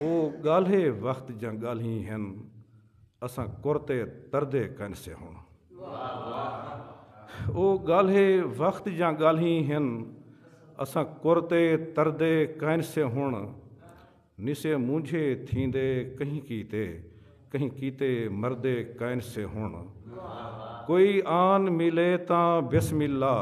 او ڳالھے وخت جاں ڳالھیں ہن اساں کرتے تردے کئنسے ہن۔ او ڳالھے وخت جاں ڳالھیں ہن اساں کرتے تردے کئنسے ہن نسے مونجھے تھیندے کہیں کیتے کہیں کیتے مردے کئنسے ہن کوئی آن ملے تاں بسم اللہ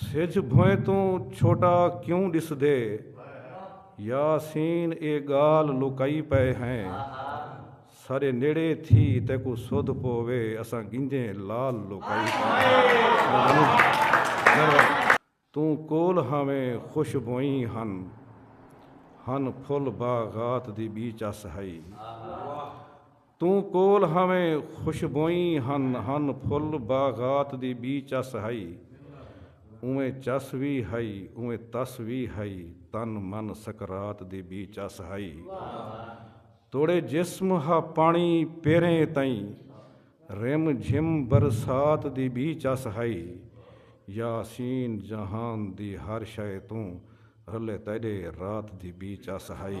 سجھ بھوئیں توں چھوٹا کیوں ڈسدے یاسین اے گالھ لوکائی پئے ہیں ساڈے نیڑے تھی تیکوں سدھ پووے اساں گنجیں لال لوکائی پئے ہیں توں کول ہاویں خوش بھوئیں ہن ہن پھل باغات دی بی چس ہئی۔ توں کول ہاویں خوشبوئیں ہن ہن پھل باغات دی بی چس ہئی اونویں چس وی ہئی اونویں تس وی ہئی تن من سکرات دی بی چس ہئی توڑے جسم ہا پانی پیریں تئیں رم جھم برسات دی بی چس ہئی یاسین جہان دی ہر شئے توں رلے تیڈے رات دی بی چس ہئی۔